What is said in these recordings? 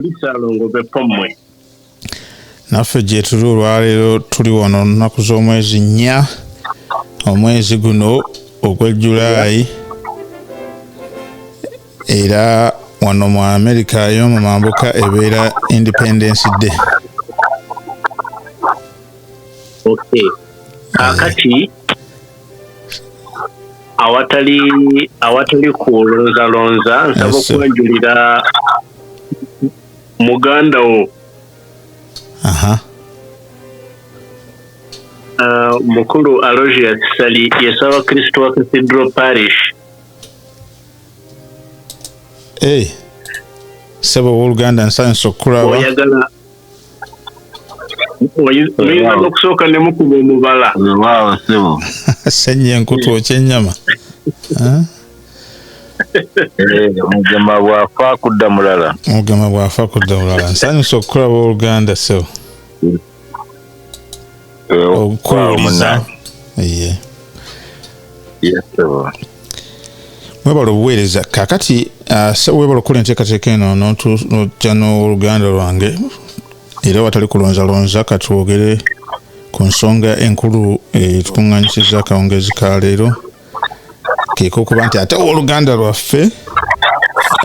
bisalongo bepommwe naffe gyetuli olwaleero tuli wano lunaku z'omwezi nnya omwezi guno ogwa julaayi era wano mu amerika y'omu mambuka ebeera independence day okay. Eh. akati awatali awatali kulonzalonza nsaba okwanjulira muganda wo aha uh, mukulu alogius sali yesaba kristo wa cathedral parish hey. sebo woluganda nsanyusa okukulaba oyinza nokusooka nemukuba omubala wewaawo sebo senye enkutu okyenyama omugema eh, bwafa kudda mulala omugema bwafa kudda mulala nsanyusa okukulaba oluganda sebo okukuwuliza mwebala obuweereza kakati ah, webala okukola enteekateeka eno notya n'oluganda lwange era watali kulonzalonza katwogere ku nsonga enkulu etukuŋŋanyisizza akawungeezi ka leero keka okuba nti ate owoluganda lwaffe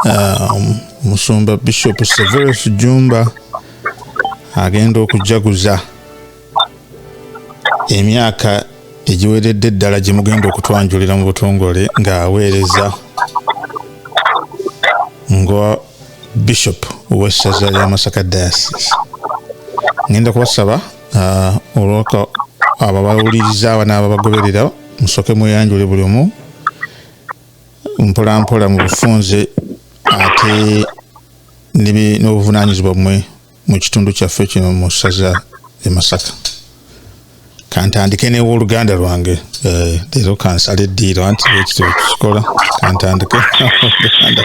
um, musumba bishop severus jumba agenda okujaguza emyaka egiweredde eddala gye mugenda okutwanjulira mu butongole ng'aweereza nga bishop owessaza lya masaka diasis ngenda kubasaba uh, olwaka ababawuliriza abana ababagoberera musoke mweyanjule buli omu mpolampola mu bufunze ate n'obuvunaanyizibwa bumwe mu kitundu kyaffe kino mu ssaza e masaka kantandike newoluganda lwange eh, leero kansala eddiiro anti ekityo kukikola kantandike oluganda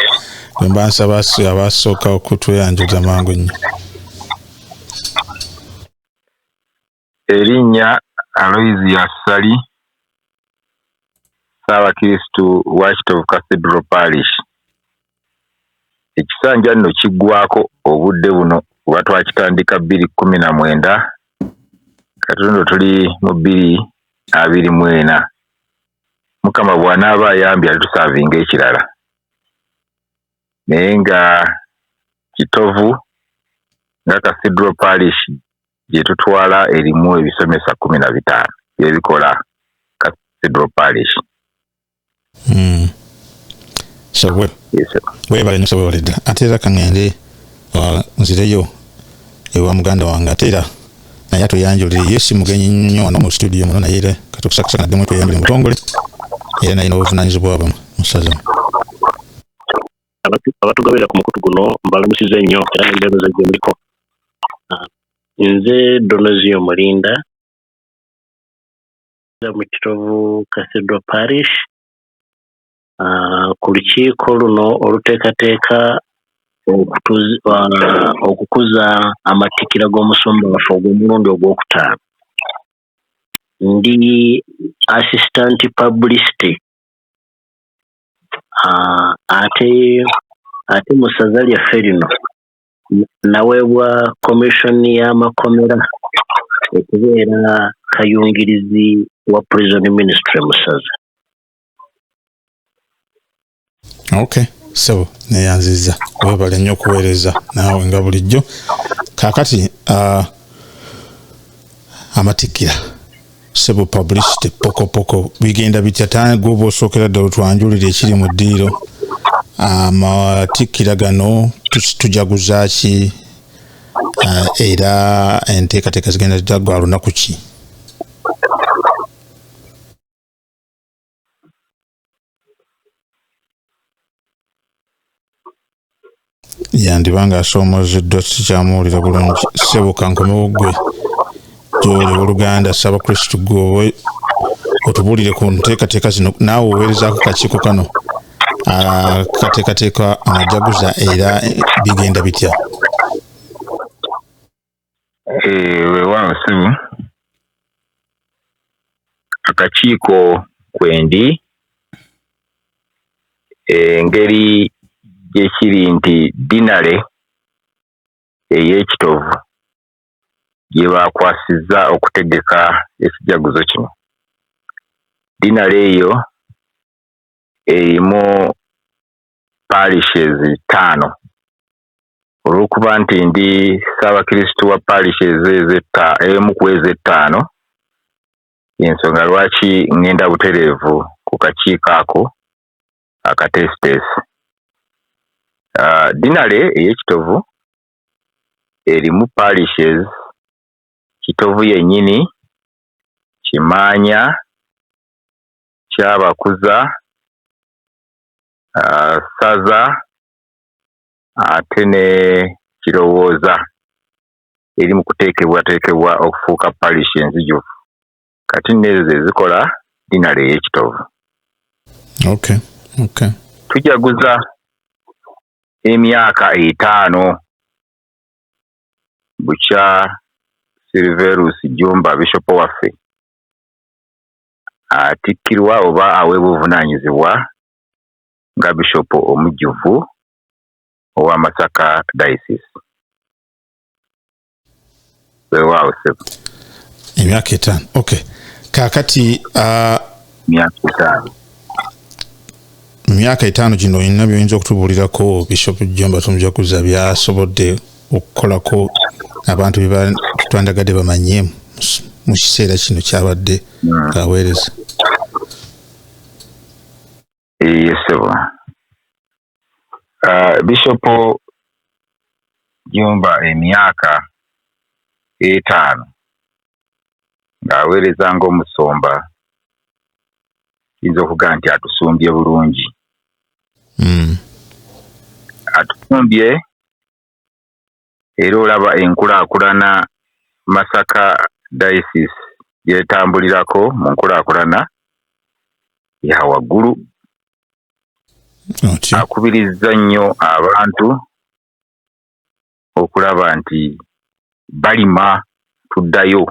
lwemba nsaba abasooka okutweyanjuza mangu nnyo Erinnya Aloysius Ssali, Ssaabakirisitu wa Kitovu Cathedral Parish. Ekisanja nno kiggwaako obudde buno kuba twakitandika bbiri kkumi na mwenda kati luno tuli mu bbiri abiri mu ena. Mukama bw'anaaba ayambye alitusavinga ekirala naye nga Kitovu nga Cathedral Parish gye tutwala erimu ebisomesa kkumi na bitaano byebikola Cathedral Parish. Hmm. So we, webale nyo webale ddala ate era kaŋŋende uh, nzireyo ewa muganda wange ate era naye atuyanjulire ye si mugenyi nnyo wano mu situdiyo muno naye era katukusakasa naddemu tweyanjule mutongole era naye n'obuvunaanyizibwa bwe musazamu abatugabira ku mukutu guno mbalamusize nnyo era nembeereza gye muliko ah, nze donozio mulinda mu kitovu cathedral parish ah, ku lukiiko luno oluteekateeka ah, okukuza amatikira g'omusumba waffe ogw'omulundi ogwokutaano ndi assistant publicity Haa ate ate mu ssaza lyaffe lino naweebwa commission y'amakomera okubeera kayungirizi wa prison ministry mu ssaza. Okay. Sebo neyanziza webale nnyo okuweereza naawe nga bulijjo kaakati uh, amatikkira sebo publicity pokopoko bigenda bitya tana gwoba osookera ddala otwanjulira ekiri mu ddiiro amatikkira gano tujaguza ki ah, era enteekateeka zigenda zita gwa lunaku ki yandiba ng'asoomozeddwa sikyamuwulira bulungi sebuka nkomewo gwe gyoli oluganda saba kristu gwe otubuulire ku nteekateeka zino naawe oweerezaako kakiiko kano ah, kateekateeka amajaguza era bigenda bitya Eh, weewaawo ssebo akakiiko kwendi engeri eh, gyekiri nti dinale ey'ekitovu gye baakwasizza okutegeka ekijaguzo kino dinale eyo erimu parishes ttaano Olw'okuba nti ndi Ssaabakristu wa Parish emu ku ezo ettaano, y'ensonga lwaki ngenda butereevu ku kakiiko ako akateesiteesi. Dinale ey'e Kitovu erimu Parishes, Kitovu yennyini, Kimaanya, Kyabakuza, Ssaza, ate ne Kirowooza eri mu kuteekebwateekebwa okufuuka parish enzijuvu kati nno ezo ze zikola dinale ey'e Kitovu. Okay. Okay. Tujaguza emyaka etaano bukya Silverus Jumba Bishop waffe atikkirwa oba aweebwa obuvunaanyizibwa nga Bishop omujjuvu owa Masaka Diocese. Weewaawo ssebo. Emyaka etaano. Okay. Kaakati uh, myaka etaano. myaka etaano gino olina byoyinza okutubuulirako Bishop Jjomba Tumujaguza byasobodde okukolako abantu bye twandagadde bamanye mu kiseera kino kyabadde hmm. aweereza. eyiye ssebo ah, bishopo jumba emyaka etaano ng'aweereza ng'omusumba kiyinza okuga nti atusumbye bulungi hmm. atusumbye era olaba enkulaakulana Masaka diocese gy'etambulirako mu nkulaakulana ya waggulu. Akubirizza nnyo abantu okulaba nti balima tuddayo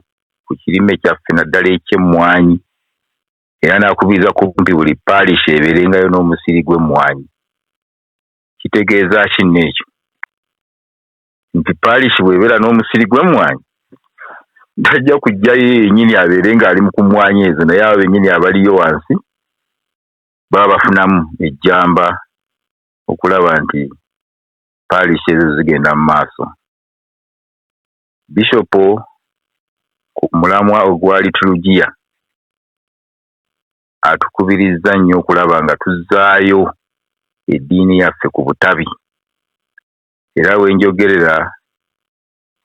ku kirime kyaffe naddala eky'emmwanyi era n'akubiriza kumpi buli paalisha ebeerengayo n'omusiri gw'emmwanyi. Kitegeeza ki nno ekyo? Nti parish bw'ebeera n'omusiri gw'emmwanyi, tajja kujja ye yennyini abeere ng'ali mu ku mmwanyi ezo naye abo bennyini abaliyo wansi baba bafunamu ejjamba okulaba nti parish ezo zigenda mu maaso. Bishop ku mulamwa ogwa liturugiya atukubirizza nnyo okulaba nga tuzzaayo eddiini yaffe ku butabi era we njogerera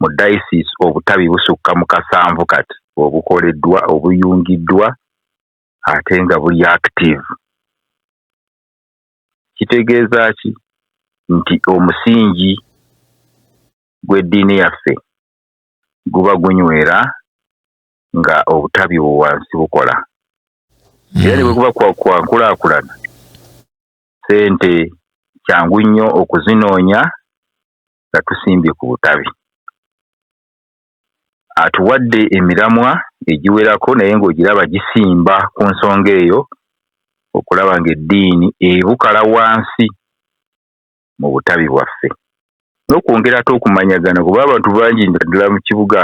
mu dayisiisi obutabi busukka mu kasanvu kati obukoleddwa obuyungiddwa ate nga buli active kitegeeza ki nti omusingi gw'eddiini yaffe guba gunywera nga obutabi wansi bukola hmm. era ne bwe kuba kwankulaakulana sente kyangu nnyo okuzinoonya nga tusimbye ku butabi atuwadde emiramwa egiwerako naye ng'ogiraba gisimba ku nsonga eyo okulaba ng'eddiini ebukala wansi mu butabi bwaffe n'okwongera ate okumanyagana kuba abantu bangi naddala mu kibuga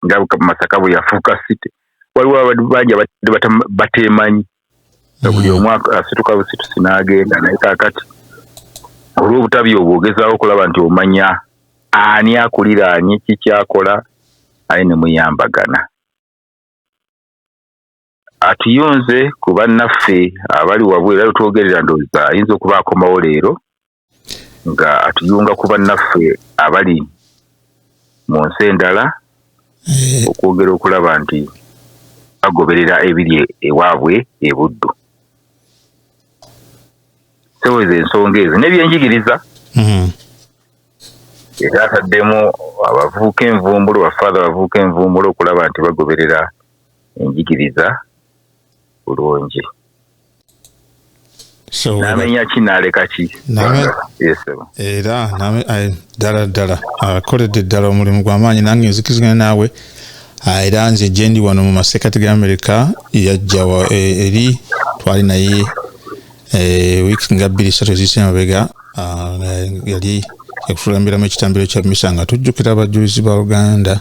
nga masaka bwe yafuuka city waliwo abantu bangi abadde bateemanyi nga buli omu asituka busitusi n'agenda naye kakati olw'obutabi obwo ogezaako okulaba nti omanya ani akulira ani kikyakola aye ne muyambagana atuyunze ku bannaffe abali wabwe era lwetwogerera ndowooza ayinza okuba akomawo leero nga atuyunga ku bannaffe abali mu nsi endala eh. okwogera okulaba nti bagoberera ebiri ewaabwe e buddu seweza ensonga ezo nebyenjigiriza mm-hmm. era ataddemu abavuuka envumbulo bafaatha abavuuka envumbulo okulaba nti bagoberera enjigiriza bulungi namenya ki naleka ki era ddala ddala akoledde ddala omulimu gwamaanyi nange nzikizigana naawe ah, era nze gyendi wano mu masekati ga amerika yajja eh, eri twali naye eh, wiiki nga bbiri satu eziyise mabega ah, yali yakutuulambiramu ekitambiro kya misa nga tujjukira abajulizi ba uganda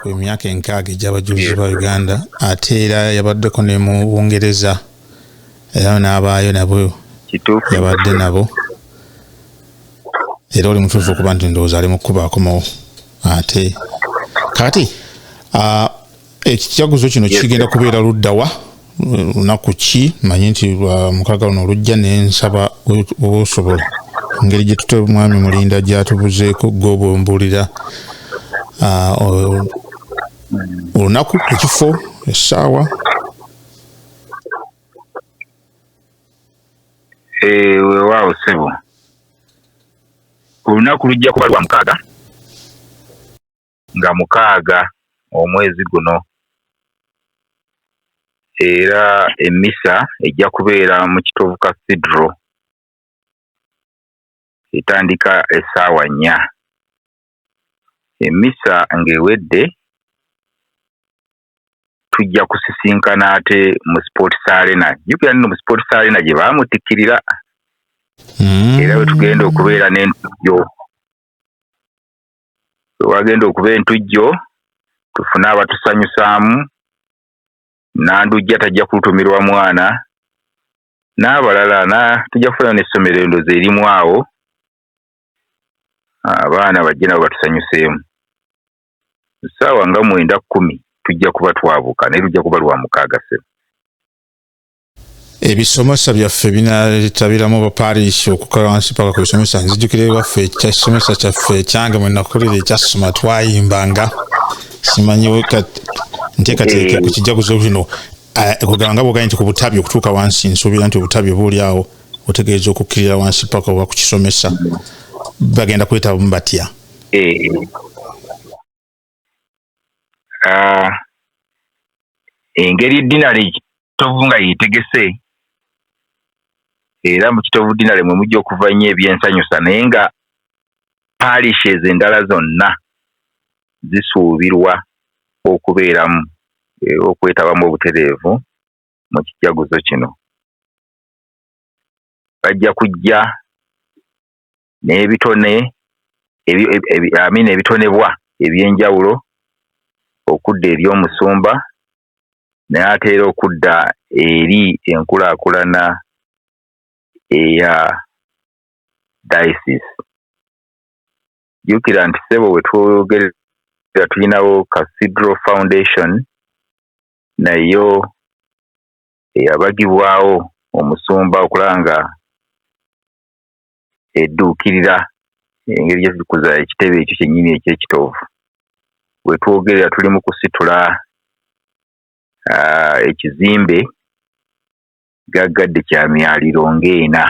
ku emyaka enkaaga egy'abajulizi ba uganda ate era yabaddeko ne mu bungereza era n'abaayo nabo yabadde nabo era oli mutuufu okuba nti ndowooza ali mu kukuba akomawo ate kati ekijaguzo kino kigenda kubeera luddawa lunaku ki manyi nti mukaaga luno olujja nensaba osobola engeri gyetute mwami mulinda gyatubuzeeko gobwembuulira ah, olunaku ekifo essaawa eh, wewaawo sebo olunaku lujja kuba lwa mukaaga nga mukaaga omwezi guno era emmisa ejja kubeera mu Kitovu Cathedral etandika essaawa nnya. Emmisa ng'ewedde tujja kusisinkana ate mu Sports Arena. Jjukira nno mu Sports Arena gye baamutikkirira hmm. era we tugenda okubeera n'entuyo wewagenda okuba entujjo tufune abatusanyusaamu Nandujja tajja kulutumirwa mwana n'abalala na tujja kufunayo n'essomero endozi erimu awo abaana bajje nabo batusanyuseemu ssaawa nga mwenda kkumi tujja kuba twabuka naye lujja kuba lwa mukaaga ssebo. ebisomesa byaffe binatabiramu baparish okukala wansi paka ku bisomesa nzijukira ewaffe ekyakisomesa kyaffe ekyange mwenakulira ekyasoma twayimbanga simanyi nteekateeka ku kijaguzo bino eh, kugamba nga bwogaye nti ku butabi okutuuka wansi nsuubira nti obutabi obuuli awo otegeeza okukkirira wansi paka oba ku kisomesa bagenda kwetabamu batya eh. ah, engeri dinale kitovu nga yetegese era mu kitovu dinale mwe mujja okuva nnyo ebyensanyusa naye nga parishes endala zonna zisuubirwa okubeeramu era okwetabamu obutereevu mu kijaguzo kino bajja kujja n'ebitone amiina ebitonebwa eby'enjawulo okudda eri omusumba n'ate era okudda eri enkulaakulana eya dayisizi. Jjukira nti ssebo we twogerera tulinawo Cathedral Foundation nayo eyabagibwawo omusumba okulaba nga edduukirira engeri gye tukuza ekitebe ekyo kyennyini eky'ekitoovu. We twogerera tuli mu kusitula ah, ekizimbe gaggadde kya myaliro ng'ena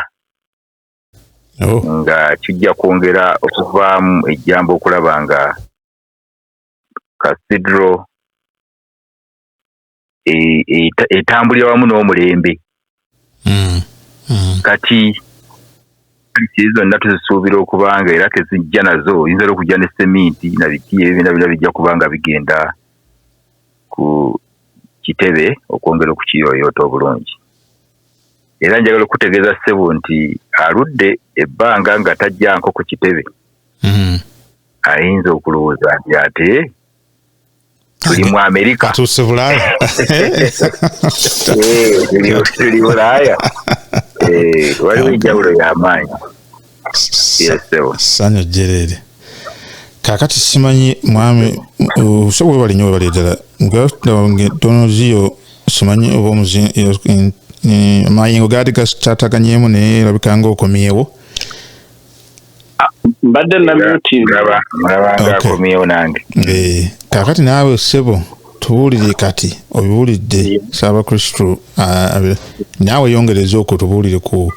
oh. nga kijja kwongera okuvaamu ejjamba okulaba nga cathedral e, e, etambulira wamu n'omulembe mm, mm. kati kiri zonna tuzisuubira okuba nga era tezijja nazo oyinza ra okujja ne seminti na biki ebyo byona bina bijja kuba nga bigenda ku kitebe okwongera okukiyoyoota obulungi era njagala okutegeeza ssebo nti aludde ebbanga nga tajjanko ku kitebe mm. ayinza okulowooza nti ate tuli mu amerika tuli bulaya tuli bulaya waliwo enjawulo yamaanyi sanyu jerere kakati simanyi mwami osobola webali nyo webali ddala tonoziyo simanyi oba omuzinamayengo gaali gatataganyemu naye labikanga okomyewo mbadde namyutingaolabanga akomyewo nange eh, kakati naawe ssebo tubuulire kati obiwulidde saabakristu naawe yongereza okwo tubuulire ku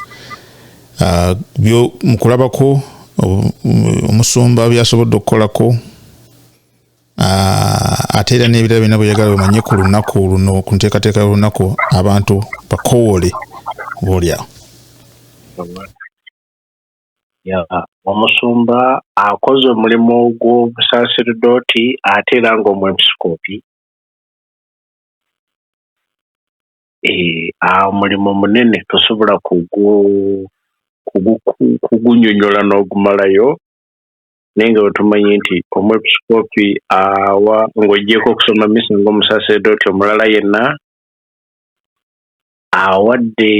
mukulabako omusumba byasobodde okukolako ate era n'ebirala byona bweyagala bemanye ku lunaku luno ku nteekateeka y'olunaku abantu bakowole boolyawo omusumba akoze omulimu gw'obusaaserdoti ate era ng'omwepisikoopi eh, omulimu munene tosobola kugunyonyola n'ogumalayo naye nga wetumanyi nti omwepisikoopi awa ng'ogyeko okusoma misa ng'omusaaserdoti omulala yenna awadde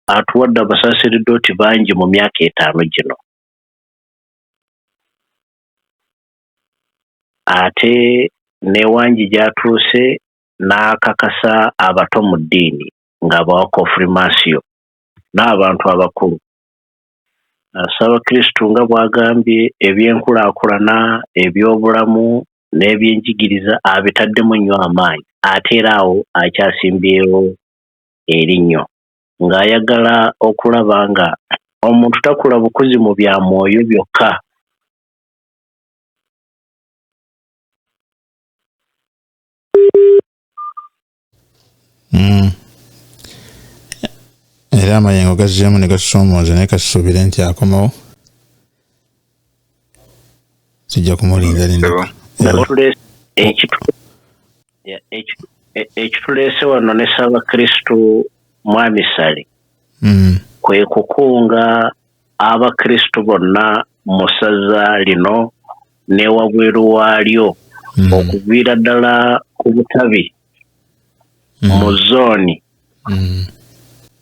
atuwadde abasaserdoti bangi mu myaka etaano gino. Ate n'e Wangi gy'atuuse n'akakasa abato mu ddiini ng'abawa Kofirimaasiyo n'abantu abakulu. Ssabakristu nga bw'agambye ebyenkulaakulana, ebyobulamu n'ebyenjigiriza abitaddemu nnyo amaanyi ate era awo akyasimbyewo erinnyo. ng'ayagala okulaba nga omuntu takula bukuzi mu bya mwoyo byokka. Hmm. era amayengo gazzeemu ne gasoomooza naye kasuubire nti akomawo kijja kumulinda linda ekituleese wano ne ssabakristu mwamisale mm. kwe kukunga abakristu bonna mu ssaza lino newabweru waalyo mm. okuviira ddala ku butabi mm. mu zooni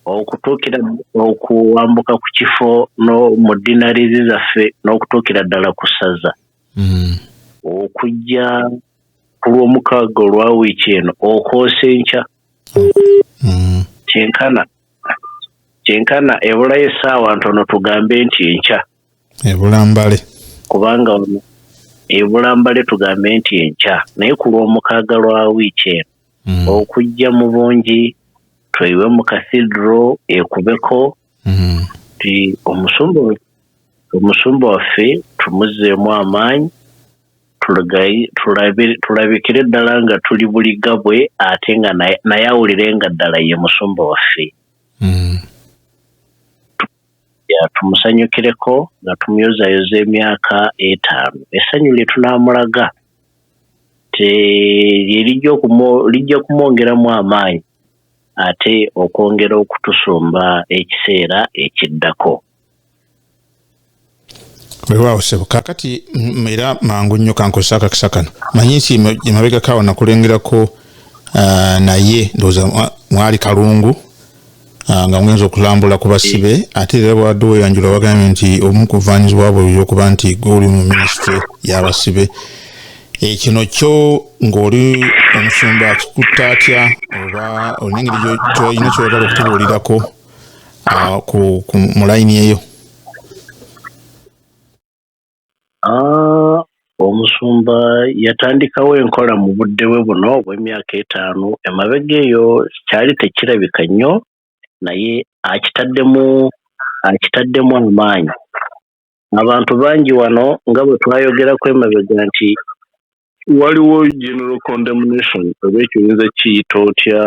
okutuukira okuwambuka ku kifo mu dinarizi zaffe n'okutuukira ddala ku ssaza mm. okujja ku lwomukaaga olwa wiiki eno okoosa enkya mm. kyenkana kyenkana ebulayo essaawa ntono tugambe nti enkya ebulambale kubanga ono ebulambale tugambe nti enkya naye ku lwomukaaga lwa wiiki eno mm. okujja mu bungi tweyiwe mu kathidro ekubeko mm-hmm. ti omusumba omusumba waffe tumuzeemu amaanyi tulabikire ddala nga tuli buliga bwe ate nga naye awulire nga ddala ye musumba waffe mm. tumusanyukireko nga tumuyozayoza emyaka etaano essanyu lye tunaamulaga lye lijja kumwongeramu amaanyi ate okwongera okutusumba ekiseera ekiddako. Weewaawo ssebo kaakati mm, era mangu nnyo kankozesa akakisa kano manyi nti emabegako awo nakulengerako ah, naye ndowooza ah, mwali kalungu ah, nga muyinza okulambula ku basibe ate era bwadde weyanjula wagambye nti omu kuvaanyizibwa bwe okuba nti gwe oli mu minisitule y'abasibe Eh, kino kyo ng'oli omusumba akikutta atya oba olina engeri kyolina kyoyagala okutubuulirako ah, mu layini eyo ah, omusumba yatandikawo enkola mu budde bwe buno obw'emyaka etaano emabega eyo kyali tekirabika nnyo naye akitaddemu akitaddemu amaanyi abantu bangi wano nga bwe twayogerako emabega nti waliwo general condemnation oba ekyo oyinza kiyita otya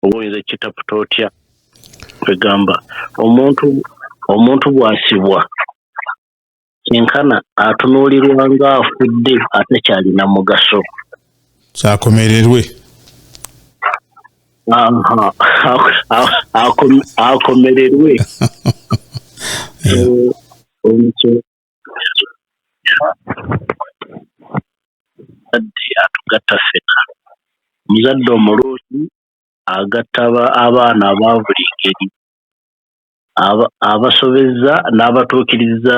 oba oyinza kitaputa otya kwegamba omuntu omuntu bwasibwa kyenkana atunuulirwa nga afudde atakyalina mugaso kyakomererwe akomererwe omuzadde atugatta ffena omuzadde omulungi agatta abaana aba buli ngeri abasobezza n'abatuukiriza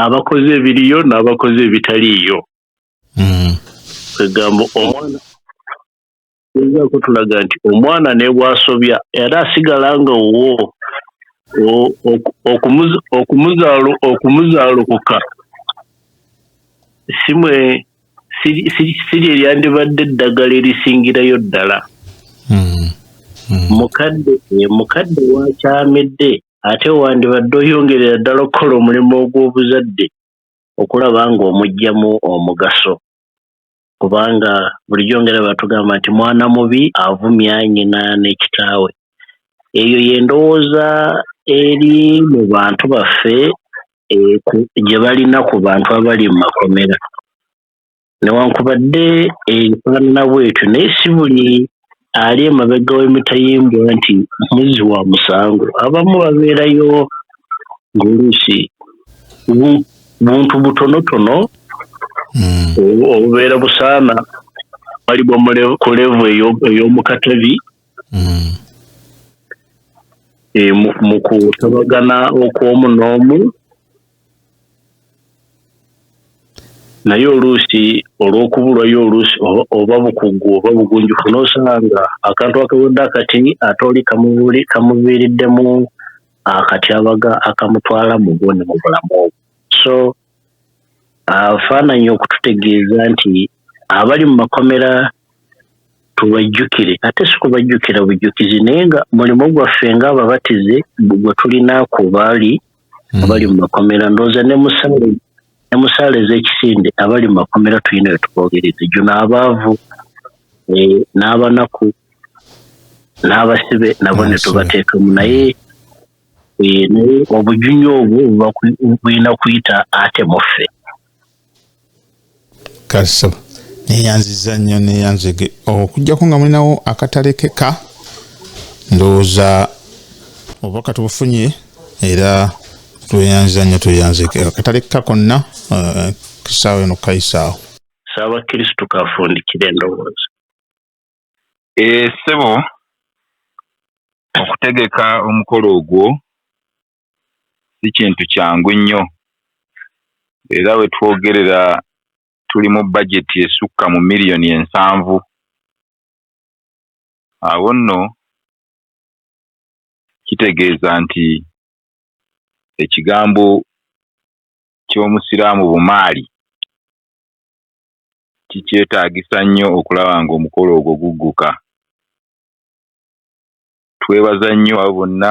abakoze ebiriyo n'abakoze ebitaliiyo mm. kwegamba omwana Gezaako tulaga nti omwana ne bw'asobya era asigala nga wuwo okumuzaalukuka si lye lyandibadde eddagala erisingirayo ddala. Hmm. Hmm. Mukadde eh, mukadde wakyamidde ate wandibadde oyongerera ddala okukola omulimu ogw'obuzadde okulaba ng'omuggyamu omugaso. kubanga bulijjo ngera batugamba nti mwana mubi avumya nyina ne kitaawe eyo yendowooza eri mu bantu baffe gye balina ku bantu abali mu makomera newankubadde ebifaanana bwetyo naye si buli ali emabega w'emitayimbwa nti muzzi wa musango abamu babeerayo ng'oluusi buntu butonotono hmm. obubeera busaana balibwa ku levu ey'omukatabi hmm. e, mu kutabagana okw'omu n'omu naye oluusi olw'okubulwayo oluusi oba bukugu oba bugunjufu n'osanga akantu akawedde akati ate oli kamuviiriddemu akatyabaga akamutwala mu bwo ne mu bulamu obwo so afaananyi okututegeeza nti abali mu makomera tubajjukire ate si kubajjukira bujjukizi naye nga mulimu gwaffe ng'ababatize gwe tulina ku baali hmm. abali mu makomera ndowooza ne musaale ne musaale ez'ekisinde abali mu makomera tulina we tuboogereza gyo n'abaavu eh, n'abanaku n'abasibe nabo ne tubateekamu naye eh, naye obujunya obwo bulina kuyita ate muffe kaso neyanziza nnyo neyanzege okujjako nga mulinawo akatalekeka ndowooza oba katubufunye era tweyanziza nnyo tweyanzege akatalekeka konna eh, kisaawo eno kukayisaawo saaba kristu kafundikire endowooza esebo eh, okutegeka omukolo ogwo si kintu kyangu nnyo era we twogerera tuli mu bajeti esukka mu miriyoni ensanvu. Awo nno kitegeeza nti ekigambo ky'Omusiraamu bumaali kikyetaagisa nnyo okulaba ng'omukolo ogwo gugguka. twebaza nnyo abo bonna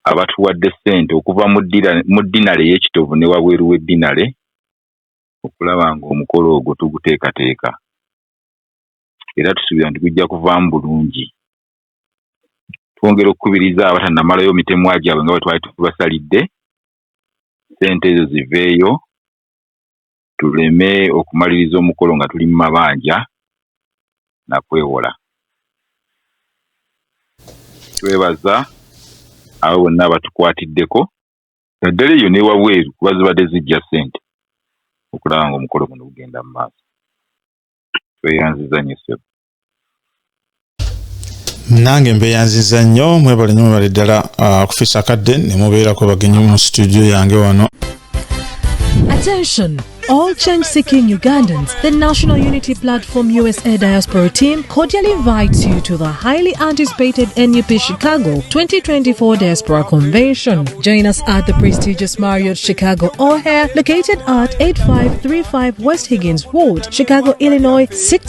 abatuwadde ssente okuva mu ddinale ey'ekitovu ne wabweru w'eddinale okulaba ng'omukolo ogwo tuguteekateeka era tusuubira nti gujja kuvaamu bulungi. Twongera okukubiriza abatannamalayo mitemwa gyabwe nga bwe twali tubasalidde, ssente ezo ziveeyo tuleme okumaliriza omukolo nga tuli mu mabanja na kwewola. Twebaza abo bonna abatukwatiddeko naddala eyo n'ewabweru kuba zibadde zijja ssente okulaba ng'omukolo guno gugenda mu maaso. Tweyanziza nnyo ssebo. nange mbeyanziza nnyo mwebale nyo mwebale ddala ah, kufisa kadde ne mubeerako bagenyi mu situdiyo yange wano Attention! All change seeking Ugandans, the National Unity Platform USA Diaspora Team cordially invites you to the highly anticipated NUP Chicago 2024 Diaspora Convention. Join us at the prestigious Marriott Chicago O'Hare, located at 8535 West Higgins Road, Chicago, Illinois 6.